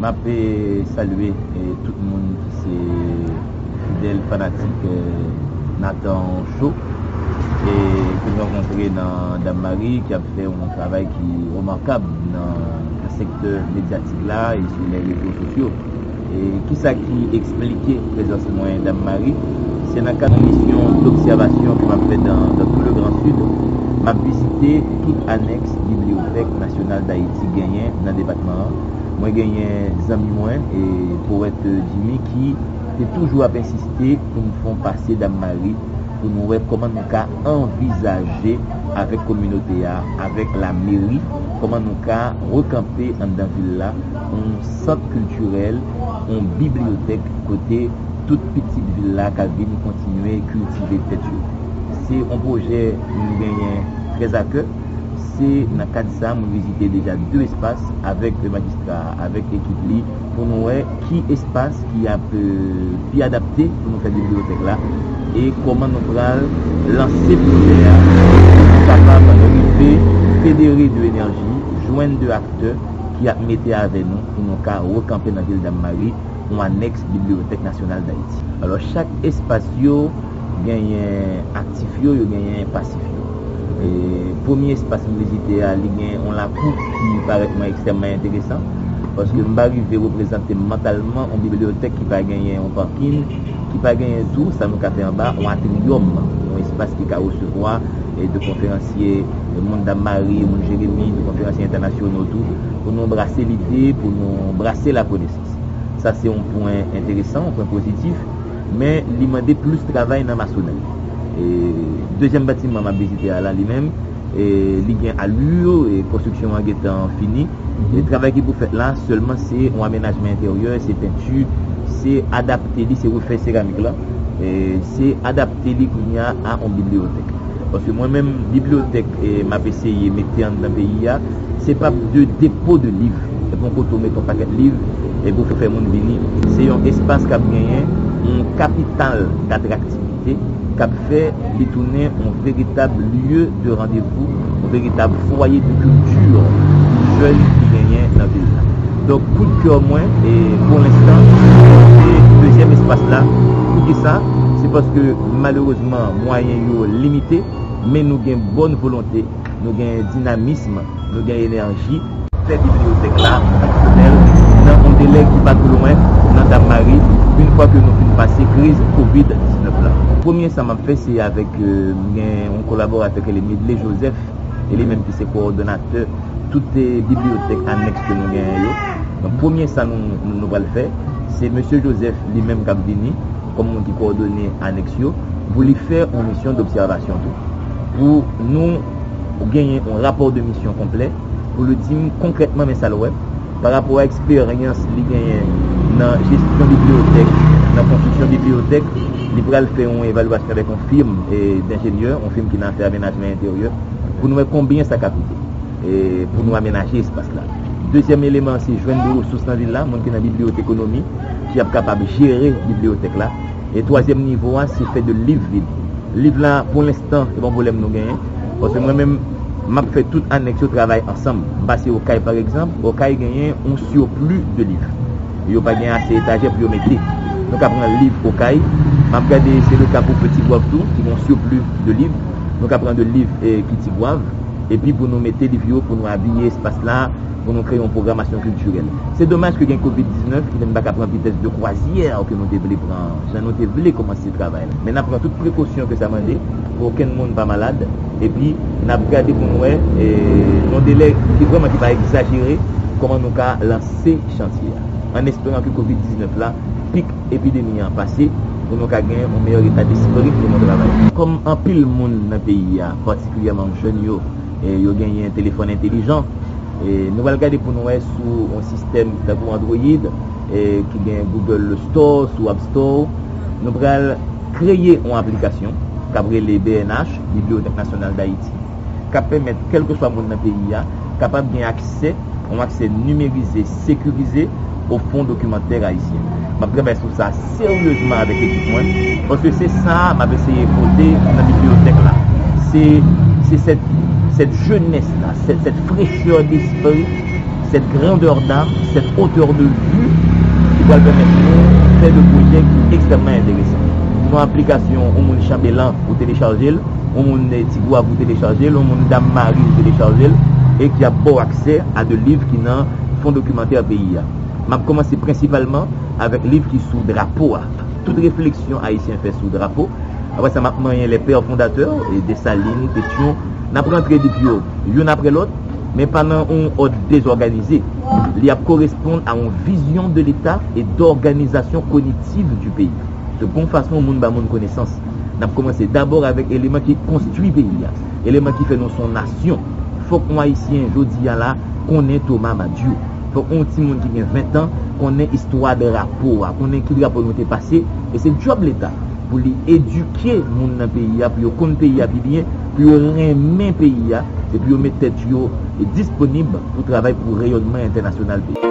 Map salye tout moun ki se fidèl fanatik Nathan show e ke nou rankontre nan Dam Marie ki ap fè yon travay ki remakab nan sektè medyatik la e sou lè rezo sosyo. E kisa ki eksplike prezans mwen Dam Marie? Se nan kad misyon dobsèvasyon ke map fè dan tou le gran Sid, map vizite tout anèks bibliyotèk nasyonal Dayiti genyen nan depatman an, Mwen genyen zanmi mwen, powèt Jimmy ki te toujou ap ensiste pou nou fè yon pase Dam Mari pou nou wè kòman nou ka anvizaje avèk kominote a, avèk lameri, kòman nou ka rekanpe anndan vil la yon sant kiltirèl, yon bibliyotèk kote tout pitit vil la ka vin kontinye kiltive tèt yo. Se yon pwojè nou genyen trèzakè. Se nan kad sa mwen vizite deja 2 espas avèk majistra a, avèk ekip li pou nou wè ki espas ki ap pi adapte pou nou fè bibliyotèk la e kòman nou pral lanse pwojè a pou nou kapab rive federe 2 enèji, jwenn 2 aktè ki ap mete avè nou pou nou ka rekanpe nan vil Dammari yon anèks Bibliyotèk Nasyonal Dayiti. Alò chak espas yo genyen aktif yo, yo genyen pasif yo. Premye espas m vizite a, li gen yon lakou ki parèt mwen ekstrèmman enteresan, paske m pa rive reprezante mantalman yon bibliyotèk ki pa genyen yon pakin, ki pa genyen tou, sa nou ka fè anba, yon atriyòm, yon espas ki ka resevwa de konferansye moun Dam Mari, moun Jeremi, de konferansye entènasyono tou, pou nou brase lide, pou nou brase lakonesans. Sa se yon pwen enteresan, yon pwen pozitif. Men li mande plis travay nan masonèri. Dezyèm batiman m ap vizite a la li menm, li gen alur, konstriksyon an gen tan fini. Travay ki pou fèt la sèlman se yon amenajman enteryè, se penti, se adapte li, se refè seramik la, se adapte li kounye a a yon bibliyotèk. Paske mwen menm, bibliyotèk m ap eseye mete anndan peyi a. Se pa de depo de liv. Se pa yon kote ou mete yon pakèt liv epi ou fè moun vini. Se yon espas k ap genyen yon kapital d'atraktivite k ap fè li tounen yon veritab lye de randevou, yon veritab fwaye de kilti pou jèn ki genyen nan vil la. Donk, kou de kè mwen, pou lenstan, se dezyèm espas la. Pou ki sa? Se paske malerezman mwayen yo limite, men nou gen bòn volonte. Nou gen dinamism, nou gen enèji. Fè bibliyotèk la fonksyonèl nan yon delè ki pa twò lwen nan Dammari une fwa ke nou fin pase kriz covid 19 la. Premye sa m ap fè se avèk m gen yon kolaboratè ki rele Medley Joseph e li menm ki se kowòdonatè tout bibliyotèk anèks ke nou genyen yo. Donk premye sa nou pral fè se Mesye Joseph li menm k ap vini. kòm moun ki kowòdone anèks yo, pou li fè yon misyon dobsèvasyon tou, pou nou genyen yon rapò de misyon konplè, pou li di m konkrètman men sa l wè, pa rapò a eksperyans li genyen nan jesyon bibliyotèk, nan konstriksyon bibliyotèk, li pral fè yon evalyasyon avèk yon firm denjenyè, yon firm ki nan afè amenajman enteryè, pou nou wè konbyen sa ka koute, pou nou amenaje espas la. Dezyèm eleman an se jwenn de resous nan vil la, moun ki nan bibliyotekonomi. ki ap kapab jere bibliyotèk la e twazyèm nivo a se fè de liv vid liv la pou lenstan se pa yon pwoblèm nou genyen paske mwen menm m ap fè tout anèks yo travay ansanm m pase okay paregzanp okay genyen yon sirpli de liv yo pa gen ase etajè pou yo mete nou ka pran liv okay m ap gade se le ka pou pe tigwav tou ki gen yon sirpli de liv nou ka pran de liv ki tigwav epi pou nou mete liv yo pou nou abiye espas la. pou nou kreye yon pwogramasyon kiltirèl. Se domaj ke gen Covid 19 ki fè n pa ka pran vitès de kwazyè ke nou te vle pran an, jan nou te vle kòmanse travay la. Men n ap pran tout prekosyon ke sa mande pou okenn moun pa malad, epi n ap gade pou n wè, nan delè ki vrèman ki pa egzajere, kòman nou ka lanse chantye a. An esperan ke Covid 19 la, pik epidemi an pase, pou nou ka gen yon meyè eta despri pou nou travay. Kòm anpil moun nan peyi a, patikilyèman jèn yo, yo genyen telefòn entelijan. Nou pral gade pou nou wè sou yon sistèm tankou Android ki gen Google Store sou App Store ou, nou pral kreye yon aplikasyon k ap rele BNH, Bibliothèque Nationale d'Haïti, k ap pèmèt kèlkeswa moun nan peyi a kapab gen aksè, yon aksè nimerize, sekirize, o fon dokimantè ayisyen. M ap travay sou sa seryezman avèk ekip mwen, paske se sa a m ap eseye pote nan bibliyotèk la. Se sèt jenès la, sèt frechè despri, sèt grandè dam, sèt otè de vi ki pral pèmèt nou fè de pwojè ki ekstrèmman enteresan. Ou nan aplikasyon, ou moun Chanbelan, ou telechaje l, ou moun Tigwav, ou telechaje l, ou moun Dammari, ou telechaje l, e ki ap ba w aksè a de liv ki nan. Fon dokimantè peyi a. M ap kòmanse prensipalman avèk liv ki sou drapo a. Tout refleksyon Ayisyen fè sou drapo. Apre sa, m ap manyen les pères fondateurs, Dessalines, Pétion. N ap rantre liv yo youn apre lòt, men pa nan yon òd dezòganize. Li ap koresponn a yon vision de l'État et d'organisation cognitive du pays. Se yon fason moun ba moun konesans. N ap kòmanse dabò avèk eleman ki konstwi peyi a, eleman ki fè nou son nasyon. Fòk yon Ayisyen jodi a la konnen Thomas Madiou. Fòk yon ti moun ki gen 20 tan konnen istwa drapo a, konnen ki drapo nou te pase. E se djòb Leta pou li edike moun nan peyi a pou yo konn peyi a pi byen, pou yo renmen peyi a e pou yo met tèt yo disponib pou travay pou reyònman entènasyonal peyi a.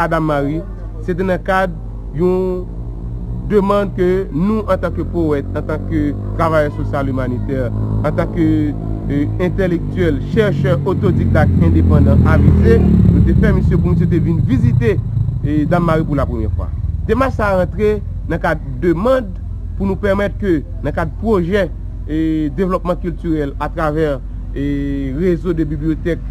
Adam Mary, se te nan kad yon demand ke nou antanke powèt, antanke travayè sosyal imanitè, antanke entèlektyèl, chèrchè otodikdak endepandan avize, nou te fè misye pou misye te vin vizite Dam Mari pou la premyè fwa. Demach sa a rantre nan kad demand pou nou pèmèt ke nan kad pwojè devlòpman kiltirèl atravè. rezo de bibliyotèk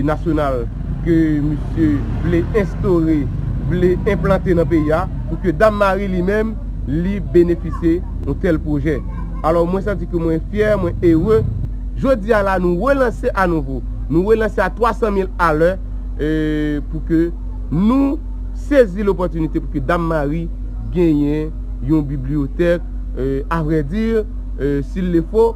nasyonal ke misye vle enstore, vle enplante nan peyi a, pou ke Dam Mari li menm, li benefisye yon tèl pwojè. Alò mwen santi ke mwen fyè, mwen ere. Jodi a la nou relanse a nouvo, nou relanse a 300 mil alè, pou ke nou sezi lopòtinite pou ke Dam Mari genyen yon bibliyotèk, a vrè di, s'il le fo,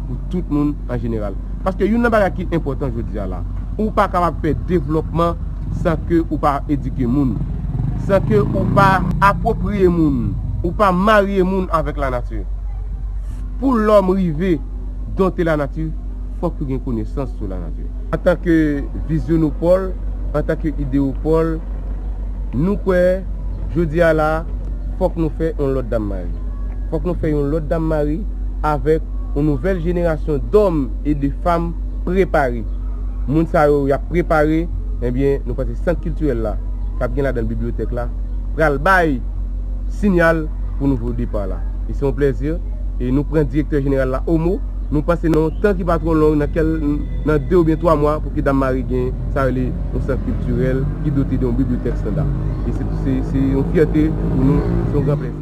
pou tout moun an jeneral. Paske youn nan bagay ki enpòtan jodi a la, ou pa kapab fè devlòpman san ke ou pa edike moun, san ke ou pa apwopriye moun, ou pa marye moun avèk lanati. Pou lòm rive donte lanati, fòk yo gen konesans sou lanati. Antan ke vizyonopòl, antan ke ideyopòl, nou kwè jodi a la, fòk nou fè yon lòt dammari. Fòk nou fè yon lòt dammari avèk. yon nouvèl jenerasyon dòm e de fam prepare. Moun sa yo y ap prepare, enbyen nou panse sant kiltirèl la, k ap gen ladan l bibliyotèk la, pral bay sinyal pou nouvo depa la. E se yon plèzi e nou pran direktè jeneral la o mo, nou panse nan yon tan ki pa twò long, nan de oubyen twa mwa pou ke Dammari gen sa yo rele yon sant kiltirèl ki dote de yon bibliyotèk standa. E se yon fyète pou nou, se yon gran plèzi.